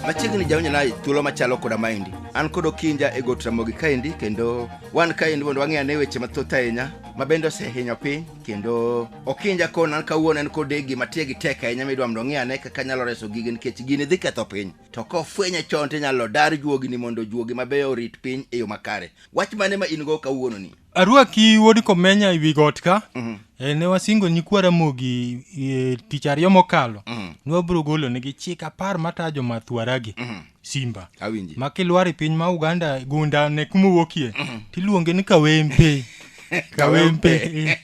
machiegni jaonyana thuolo machalo koda maendi an kod okinja e got ramogi kaendi kendo wan kaendi mondo wang'e ane weche mathoth ahinya ma bende osehinyo piny kendo okinja kona an kawuono en kod gima tie gi tek ahinya midwa mondo ong'e ane kaka nyalo reso gigi nikech gini dhi ketho piny to kofwenye chon to inyalo dar juogini mondo juogi mabeyo orit piny e yo makare Wach mane ma in go kawuono ni? Arwaki wuod Komenya e wi got ka. Mm -hmm. e, ne wasingo nyikwa Ramogi e, tich ariyo mokalo. Mm -hmm. Ne wabiro golo negi chik apar matayo joma thwaragi. Mm -hmm. Simba. Awinji. Ma kilwar e piny ma Uganda gunda ne kuma wuokie. Mm -hmm. Tiluonge ni Kawempe. kawempe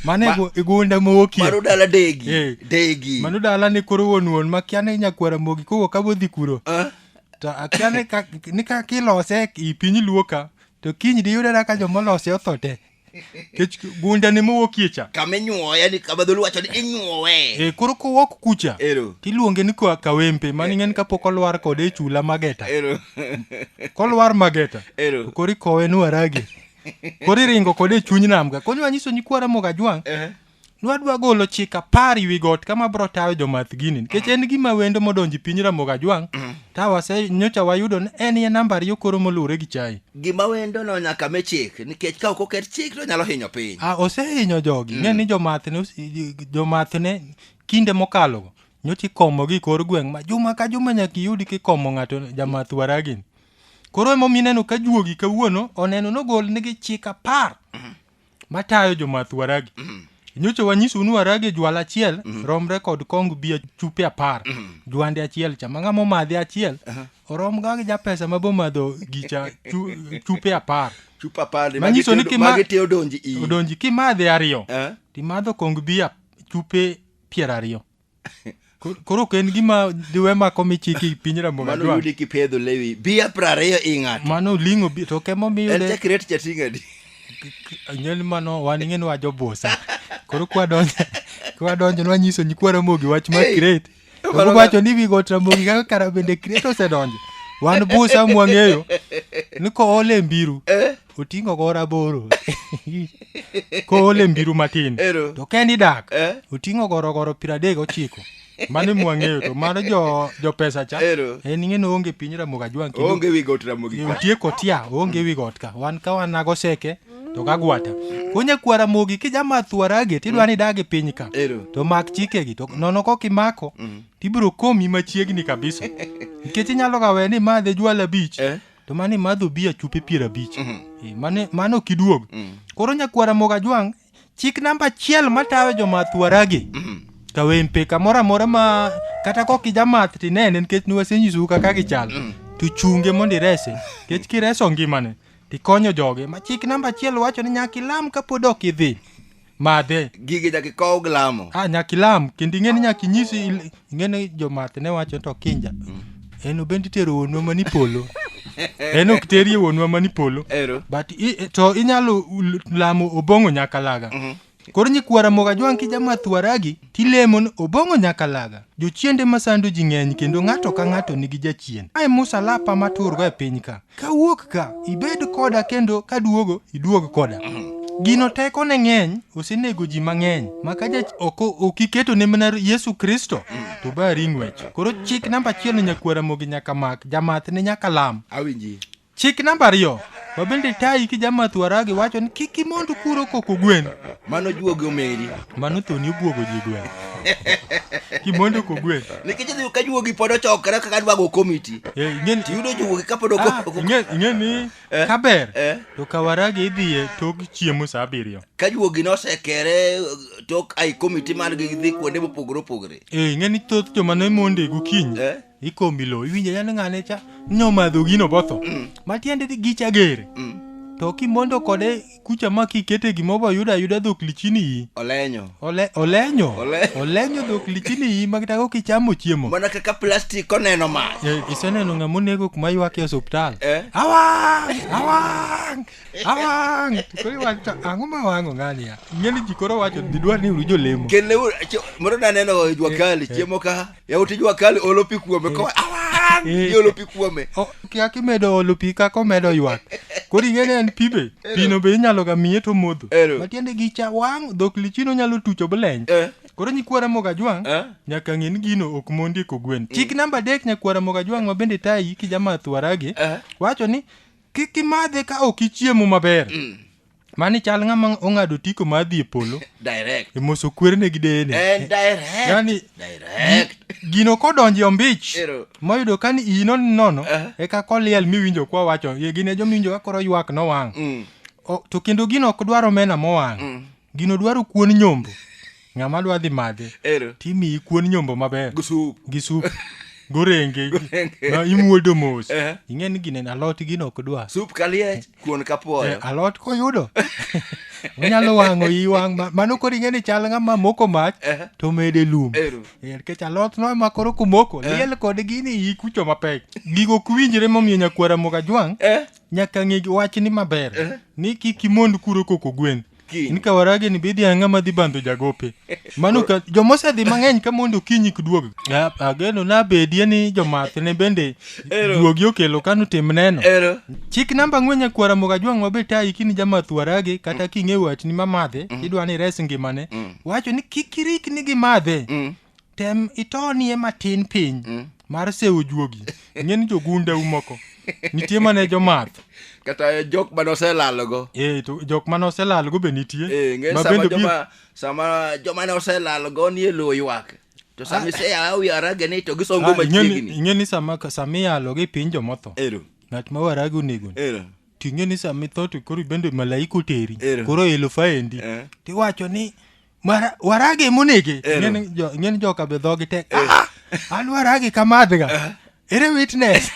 mane Ma, igunda mowokie mano dala degi eh. degi mano dala ne koro wuon wuon makia ni nyakwara mogi kowuok abodhi kuro uh. to akia ni ka ni ka kilose i piny luo ka to kiny diyudena ka jomolose otho te kech gundani mowuokie cha kama inyuowe yani kama dholuo wacho ni inyuowe e koro kowok kucha Ero. tiluonge ni kwa kawempe mani ng'en kapok olwar kode e chula mageta ero kolwar mageta Ero. to koro ikowe ni warage koro iringo kode e chuny nam ka koro nyiso nyikwa ramoga jwang' Ehe. Nwadwa golo chik apar wi got kama bro tayo jomath gini nikech en gima wendo modonji piny Ramogi Ajwang' ta wase nyocha wayudo ni en ye namba ariyo koro moluwre gi chai. Gima wendo no nyaka me chik nikech ka ok oket chik to nyalo hinyo piny. Ah, osehinyo jogi ng'e ni jomath ne ose- jomath ne kinde mokalo go nyocha ikomo gi kor gweng' ma juma ka juma nyaka iyudi kikomo ng'ato jamath waragini. Koro emomiyo ineno ka juogi kawuono oneno nogol nigi chik apar matayo jomath waragi nyocha wanyisou ni waragi jwala achiel romre kod kong bia chupe apar jwande achiel cha ma ng'ama omadhe achiel oromga gi japesa ma bomadho gicha chu- chupe apar chupa pale Manyiso ni kima- magi te odonji iyi odonji kimadhe ariyo Eh? timadho kong bia chupe piero ariyo Ko- koro ok en gima diwe mako michiki piny mano ramogadwa yudi kipedho lewi bia prariyo i ng'ato mano ling'o bi- to kemo en miyude chakret chating'adi nyel mano wan ing'e ni wajobusa koro kwadonjo kwadonjo nwanyiso nyikwa ramogi wach ma Hey, kret to mano ka- wacho ni wigot ramogi kaka kara bende kret osedonjo wan busa mwang'eyo ni koole mbiru Eh. oting'o go raboro koole mbiru matin Ero. to kendi dak Eh? oting'o gorogoro piero adek gochiko mano mwang'eyo to mano jo, jo pesa cha Ero. en ing'eno onge piny ramogi ajwang' kendo oonge wi got ramogi kwa. nitie kotia onge wi got ka wan ka wan nago seke to kagwata kunya kwa ramogi kijama thuarage tidwa ni dagi piny ka Ero. to mak chikegi to nono kok imako tibiro komi machiegni kabisa nikech inyalo ga we ni madhe jwala bich Eh? to mane madho bia chupe piero abich Eh, mane mane ok iduog koro nyakwara moga jwang chik namba achiel matawe jomath waragi kawempe kamoro amora ma kata kok ijamath tinene nikech niwasenyisou kaka gichal to chunge mondo irese nikech kireso ngimane tikonyo joge ma chik namba achiel wacho ni nyaka ilam kapod ok idhi madhe gigi nyaka ikow gi lamo ah, nyaka ilam kendo ing'eni nyaka inyisi il- ing'eni jomath ne wacho to kinja en obend itero wuonwa mani polo en ok terie wuonwa mani polo ero but i, to inyalo l- lamo obong'o nyakalaga koro nyikwara moga jwang' kijamatwaragi tilemo ni obong'o nyakalaga jochiende masando ji ng'eny kendo ng'ato ka ng'ato nigi jachien ae musa lapa maturgo e piny ka Kawuok ka, ibed koda kendo kaduogo, iduog koda. Gino teko ne ng'eny, osenego ji mang'eny. Maka ja oko ok iketo ne mana Yesu Kristo, to ba ring'wech. Koro chik namba achiel ne nyakwar Ramogi nyaka mak, jamath ne nyaka lam. Awinji. Chik namba ariyo, wabende tayi ki jamath waragi wacho ni kik imond kuro koko gwen. Mano juogi omeri. Mano thoni obuogo ji gweng'. Kimondo ko gweng'. Nikech idhi ka juogi pod ochokre kaka dwa go komiti. Eh, ing'eni- Tiyudo juogi ka pod Ah, ok ing'e- ing'e ni Eh, kaber eh. to kawaragi idhiye tok chiemo sa abiriyo ka juogi nosekere uh, tok ai komiti mar gi dhi kuonde mopogore opogore. Eh, ing'e ni thoth joma ne monde gokinyi Eh. ikomi lo iwinjo yani ng'ane cha nyomadho gino botho matiende ni gicha gere Mm. to kimondo kode kucha ma kikete gimo ba yuda yuda dhok lichini yi olenyo ole olenyo Ole- olenyo dhok lichini yi ma kata kok ichamo chiemo mana kaka plastic oneno ma Eh, iseneno ng'ama onego kuma ywak e osuptal Eh. awang' awang' awang' To koro iwacho to ang'o ma wang'o ng'ani ya ng'eni ji koro wacho didwar ni uru jolemo kendo mondo naneno jwakali chiemo ka yawuot jua kali olo pi kuome ko awang Eh. iolo pi kuome O- kia kimedo olo pi kaka omedo ywak koro ing'eni en pi be pino be inyalo ga miye to modho Ero. matiende gi cha wang' dhok lichino nyalo tucho bleny Eh. koro nyikwara moga jwang' Eh. nyaka ng'e ni gino ok mondi eko gwen chik namba adek nyakwara moga jwang' ma bende tayi kijamath waragi Eh. wacho ni kik imadhe ka ok ichiemo maber Mani chal ng'ama ong'ado otiko mar dhi e polo direct e moso kwerene gi deyene. and direct Yani- direct Gino kodonje ombich Ero. moyudo ka ni iyi non nono Aha. eka koliel miwinjo kwa wacho ye gine jomiwinjo ka koro ywak nowang'. Mm. O- To kendo gino ok dwar omena mowang'. Gino dwaro kuon nyombo. Ng'ama dwa dhi madhe Ero. timiyi kuon nyombo maber Gi sup. gi sup gorenge Gorenge. ma imuodo mos Eh. ing'e ni gine alot gino ok dwa Sup kaliech, kuon Eh, kapuoyo. alot koyudo onyalo wang'o i wang' ma- mano koro ing'e ni chal ng'ama moko mach Eh. to mede lum Ero. Eh, nikech alot no ema koro kumoko liel kod gini iyi kucho mapek gigo ok winjre momiyo nyakwara mokajwang' Eh. nyaka ng'e wachni maber ni kik imond kuro koko gwen kiny. ni kawarage ni bidhi ang'a madhi bandho jagope mano ka joma osedhi mang'eny ka mondo okinyi kiduog A- ageno nabedie ni jomath ne bende Ero. duogi okelo kano tim neno Ero. chik namba ang'wen nyakwara moga jwang' mabe tayi kini jamath warage kata king'e watni mamadhe idwa ni res ngimane wacho ni kik irikni gi madhe tem itonie matin piny mm. mar sewo juogi ng'eni jogunda umoko nitie mane jomath kata jok mane oselalogo e, to jok mane oselalogo be nitie e, sama, joma, sama joma ne oselalogo nie lowo ywak to sama ah. iseyawo yarage ni to gisongo ah, machiegni ing'e ni sama sama iyalo gi piny jomotho ero ng'at ma waragi onego ero ting'e ni sama itho to koro bende malaika oteri koro elufa endi eh. tiwacho ni Mara- warage monege Eh, no. Ing'eni jo- ing'eni joka be dhogi tek "Ah, an warage kamadhga ere witness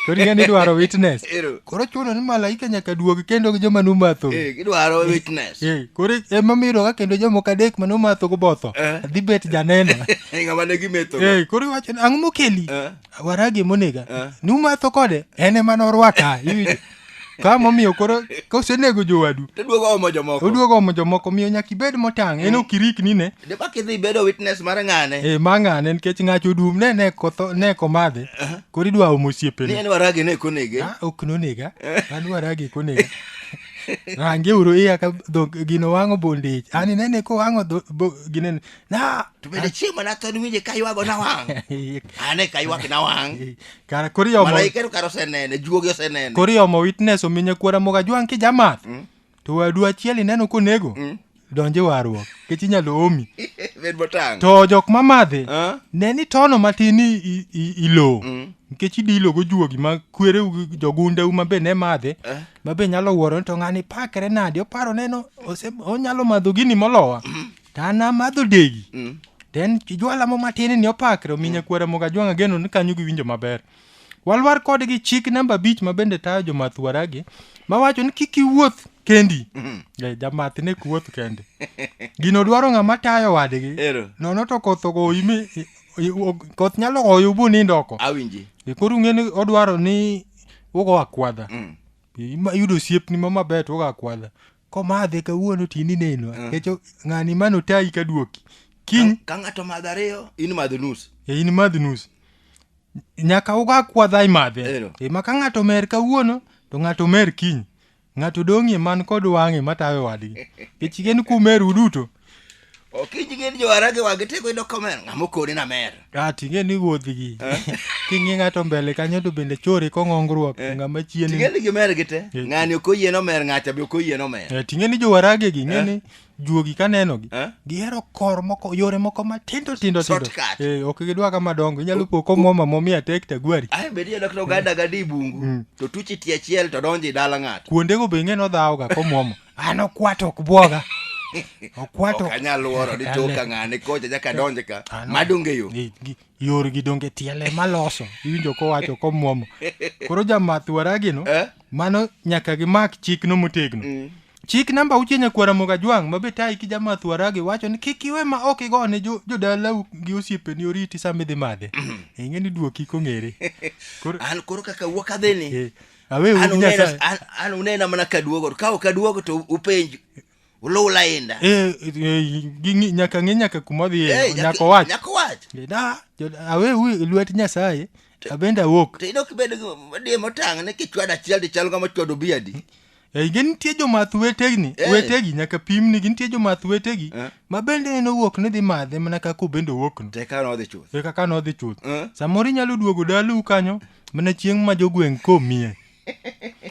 koro ing'eni idwaro witness Ero. koro chuno ni malaika nyaka duogi kendo gi joma numatho Eh, gidwaro witness Eh, koro emamiyo ka kendo jomoko adek ma numatho go botho Eh. dhi bet janeno ng'ama ne gimetho Eh, koro iwacho ni ang'o mokeli Eh. warage monega Eh. numatho kode en ema norwaka iwinjo Ka momiyo koro kosenego jowadu to duogo omo jomoko oduogo omo jomoko miyo nyaka ibed motang' en ok irikni ne de bak idhi bedo witness mar ng'ane e ma ng'ane nikech ng'ach odum ne ne kotho ne komadhe koro idwa omo ni osiepene en waragi ne konege Ah, ok nonega an waragi konega range uru iya ka dhok gino wang'o bondich ani nene ko wang'o dho- bo- gine na to bende chieng' mana thon winje ka ywago na wang' ane ka ywak na wang' Kara koro iomo malaike to kara osenene juogi osenene koro iomo witness omi nyakwara mogo ajwang' kijamath. Mm. To wadu achiel ineno konego. Mm. Donj e warruok. Kech inyalo omi. bed motang' To jok ma madhe Ah. ne ni tono matin i- i- i- ilo. Mm. Nikech idilo go juogi ma kwereu gi jogundeu ma be ne madhe. Eh. Ma be nyalo wuoro ni to ng'ani pakre nadi oparo neno ose- onyalo madho gini molowa. to an amadho degi Mm. to en jwala mo matin ni opakre omi nyakwara moga jwang' ageno ni kanyo giwinjo maber walwar kodgi chik namba abich ma bende tayo jomath waragi mawacho ni kik iwuoth kendi Eh, jamath ne ok wuoth kende gino dwaro ng'ama tayo wadgi Ero. nono to koth ogoyi mi i- i- og- koth nyalo goyo bu nindo oko Awinji. E, koro ung'e ni odwaro ni ugo akwadha Mm. Ima- yudo osiepni ma maber to ugo akwadha komadhe kawuono to in ineno Ah. nikech ng'ani mano tayi ka duoki kiny Ka- ka ng'ato madho ariyo in madho nus e in madh nus nyaka uga kwadha imadhe Ero. e ma ka ng'ato mer kawuono to ng'ato mer kiny ng'ato dong'ie man kod wang'e matawe wadgi nikech en kumeru duto Okinyi gin johara gi wagi teko ido kamer ng'ama okoni na mer. Ah, ting'e ni wuodhigi king'e ng'ato mbele kanyo to bende chore kong'ongruok to ng'ama chien Ting'e ni gimer gi te. Eh. Ng'ani ok oyie nomer ng'acha be ok oyie nomer. Eh, ting'e ni jowaragegi ng'e ni juogi kanenogi Eh? gihero kor moko yore moko matindo tindo tindo Shortcut. Eh, ok gidwa ka madongo inyalo po komwoma momia tek tagwari Ae bedi yadok to oganda gadi bungu to tuchi tie achiel to donji dala ng'ato. kuondego be ing'e nodhawoga komwomo an okwat ok bwoga okwat ok ok anyal wuoro ni toka ng'ane kocha nyaka donje ka Ah, no. madonge yo Gi- gi- yorgi donge tiele maloso iwinjo kowacho komwomo koro jamath waragino Eh? mano nyaka gimak chikno motegno chik namba auchiel nyakwara mogajwang' ma be tayi ki jamath waragi wacho ni kik iwe ma ok igo ne jo- jodalau gi osiepeni oriti sama idhi madhe ing'e ni duoki kong'ere koro an koro kaka wuok adhini Eh, awe An unena- nyasaye an- an unena mana kaduogo to ka ok aduogo to upenj uluw lainda Eh, eh, ging'i- nyaka ng'e nyaka kuma odhiye Eh, nyaka- nyaka owach nyaka owach Eh, da jo- awe wi lwet nyasaye abende awuok to in ok ibed di motang' ni kichwado achiel to chal kama chwado biadi Eh, gi nitie jomath wetegi Eh. wetegi nyaka pimni gi nitie jomath wetegi Eh. ma bende en owuok ni dhi madhe mana kaka obende owuokno to eka nodhi chuth e kaka nodhi chuth Eh. samoro inyalo duogo dalau kanyo Mana chieng' ma jogweng' komie.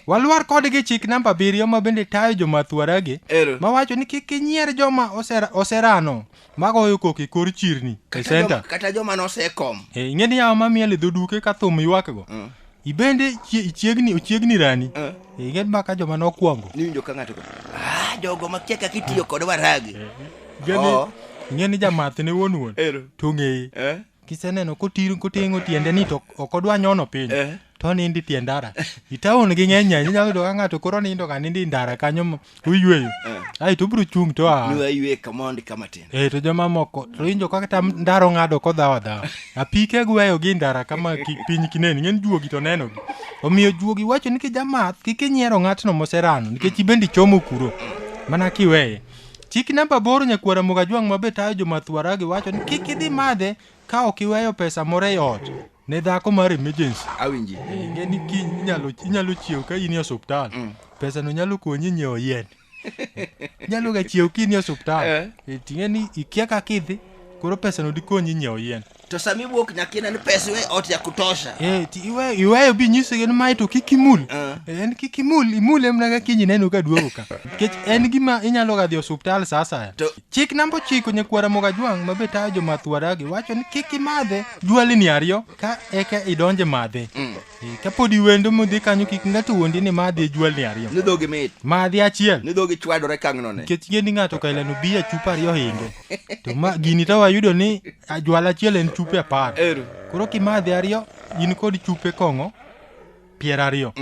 Walwar kodgi chik namba abiriyo ma bende tayo jomathuaragi Ero. mawacho ni kik inyier joma osera- oserano magoyo koko e kor chirni e Kata senta. joma- kata joma nosekom Eh, ing'e ni yawa ma miel e dhoduke ka thum ywakgo Mm. ibende chie- chiegni ochiegni rani Eh. Eh, ing'e ma ka joma nokwongo niwinjo ka ng'ato go, "Ah, jogo makia kaka itiyo kod waragi Ing'e ni- Oo. ing'e ni jamath ne wuon wuon Ero. to ng'eye Eh? kiseneno kotir kotengo tiende ni to ok odwa nyono piny Eh. to onindi tie ndara itaon gi ng'eny ahinya inyalo yudo ka ng'ato koro nindo ka nindi ndara kanyo mo- oyweyo ai to obiro chung' to a Nua yue kamondi kama tin. eh to jomamoko to injo kaka tam ndaro ng'ado kodhawo adhawa apike gweyo gi ndara kama ki- piny kineni ng'en juogi to nenogi omiyo juogi wacho ni kijamath kik inyiero ng'atno moserano nikech ibende ichomo kuro mana kiweye Chik namba aboro nyakwar Ramogi Ajwang' ma be tayo jo math Waragi wacho ni kik idhi madhe ka ok iweyo pesa moro e ot ne dhako mar emergency. Awinji. Ing'e ni kiny inyalo inyalo chiew ka in e osiptal. Pesano nyalo konyi nyiewo yien. Nyalo ga chiew ka in e osiptal. Eh. Eh, Ting'e ni ikia kaka idhi koro pesano dikonyi nyiewo yien. To sami iwuok nyaka ine ni pesa iwe ot ya kutosha. Eh, ti iwe iwe bi nyiso gen mai to kik imul. Eh. Eh, En kik imul, imul emna ga kinyi neno ka duogo ka. Kech en gima inyalo ga dhi osuptal sa asaya. To- Chik namba ochiko nyakwara moga jwang' mabe tayo jomath waragi wacho ni kik imadhe jwalini ariyo ka eka idonje madhe. Eh, Kapodi wendo mudhi kanyo kik ng'ato wuondi ni ma adhi jwalni ariyo. Ni dhogi mit. Ma adhi achiel. Ni dhogi chwadore kang'no ne. Nikech ing'e ni ng'ato ka ilano bi a chupa ariyo hinge. To ma gini to wayudo ni a jwala achiel en chupe apar. Ero. Koro kimadhi ariyo in kod chupe kong'o piero ariyo.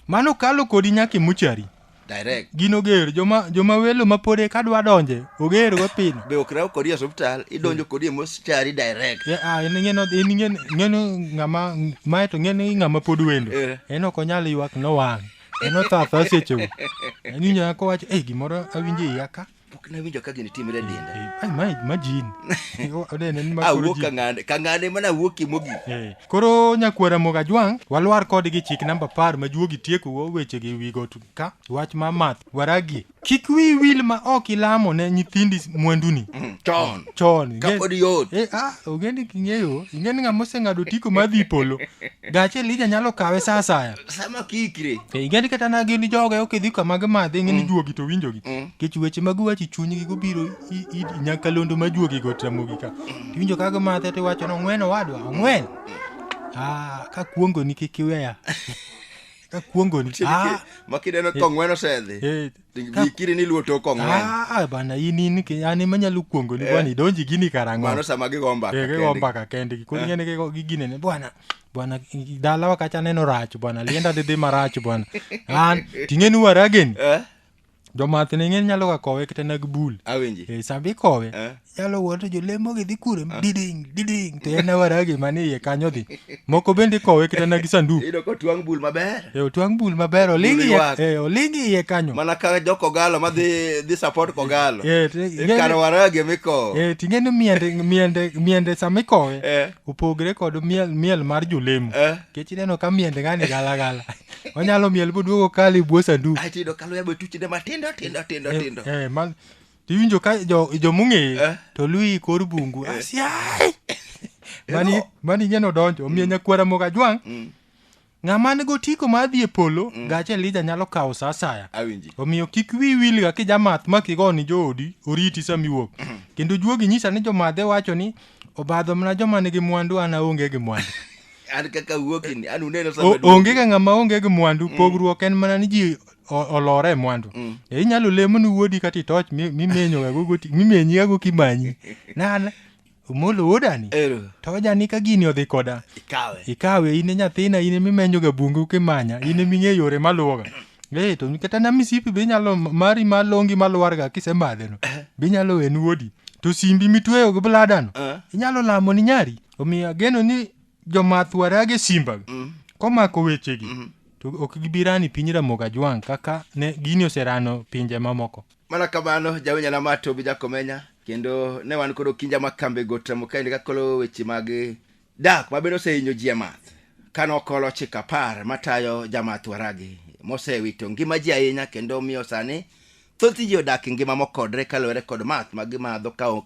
Mano kalo kodi nyaka imuchari. direct gin oger joma joma welo ma pod eka dwa donje oger go pino be ok raw kodi e osiptal idonjo kodi e moschari direct Ya, ah, en ng'eno en ng'eno ng'eno ng'ama mae to ng'eno i ng'ama pod wendo Eh. en ok onyal ywak nowang' en othatha sechego en inyaka kowacho eh gimoro awinjo e iya ka pok nawinjo ka gini timre e denda Eh, ai, ma- imagine O- oneno ni ma koro awuok ji- ka ng'ane ka ng'ane mana awuokie mogik Eh, koro nyakwara moga jwang' walwar kodgi chik namba par ma juogi tiekogo wechegi e wi got ka wach ma math waragie kik wi wil ma ok ilamo ne nyithindi mwanduni chon chon ing'e- Kapod yot. Eh, ah, ogendi king'eyo ing'e ni ng'ama oseng'ado tiko madhi polo gache lija nyalo kawe sa asaya sama kikre Eh, ing'e ni kata na gin joge ok idhi kama gimadhe ing'e ni juogi to winjogi kech weche mag wachi chunygi gobiro i- i- i- nyakalondo ma juogi go tamogi ka tiwinjo ka gimadhe tiwacho ni ong'wen owadwa ong'wen Ah, ka kuongoni kik iweya ka kuongoni Ah, makineno kong'wen osedhi eh, Vikiri ni luo to kong'wen. Ah, ah, bana in in ke an ema nyalo kuongo ni bwana idonji gini karang'o. Mano sama gigo mbaka. Eh, gigo mbaka kende. Koro eh. ngene gigo gigine ne bwana. Bwana dala wakacha neno rach bwana lienda de de marach bwana. An tingeni waragen. Eh. Jomath ne ng'eny nyalo ga kowe kata nag bul. Awinji. Eh, sambi kowe. Eh. Yalo wuod to jolemo gi dhi kure diding diding to en awara gima ni iye kanyo dhi. Moko bende kowe kata na gi sandu. Iyudo ka otwang' bul maber. E otwang' bul maber oling iye Bul e oling iye kanyo. Mana ka jo Kogalo ma dhi dhi support Kogalo. Eh, to ing'e- Ikar waragi miko. E ting'e ni miende miende miende sama ikowe Eh. opogre kod miel miel mar jolemo. Eh. Kech ineno ka miende ngani gala gala. Onyalo miel boduogo kali buo sandu. Aito iyudo ka luya be tuchne matindo tindo tindo tindo. Eh, eh, ma to iwinjo ka jo- jomong'eye Eh. to luyi i kor bungu asiai mani Eno. mani ing'e nodonjo omiyo nyakwara moko ajwang' Mm. ng'ama nigo tiko mar dhi e polo gache elija nyalo kawo sa asaya Awinji. omiyo kik wi wilga kijamath ma kigo ni joodi oriti sama iwuok kendo juogi nyisa ni jomadhe wacho ni obadho mana joma nigi mwandu an aonge gi mwandu An kaka wuokini, an uneno sama O- duogo. onge ga ng'ama onge gi mwandu pogruok en mana ni ji o- olore e mwandu Mm. e inyalo lemo ni wuodi kata itoch mi- mimenyoga go goti- mimenyiga go kimanyi nana omolo wuodani Ero. tojani ka gini odhi koda Ikawe. ikawe in e nyathina in emimenyoga bungu kimanya in eming'e yore maluwoga e to kata na misipi be inyalo mari malongi malwarga kisemadheno be inyalo wen wuodi to simbi mitweyo gi bladano Eh. inyalo lamo ni nyari omiyo ageno ni jomath warage simba komako wechegi to ok gibi rani piny ramoga jwang' kaka ne gini oserano pinje mamoko mana kamano jawinja na ma tobi jakomenya kendo ne wan kod okinja ma kambe got ramo kaende kakolo weche mag dak ma bende osehinyo ji e math ka nokolo chik apar matayo jamath waragi mosewito ngima ji ahinya kendo miyo sani thoth ji odak e ngima mokodre kaluwore kod math ma gimadho ka ok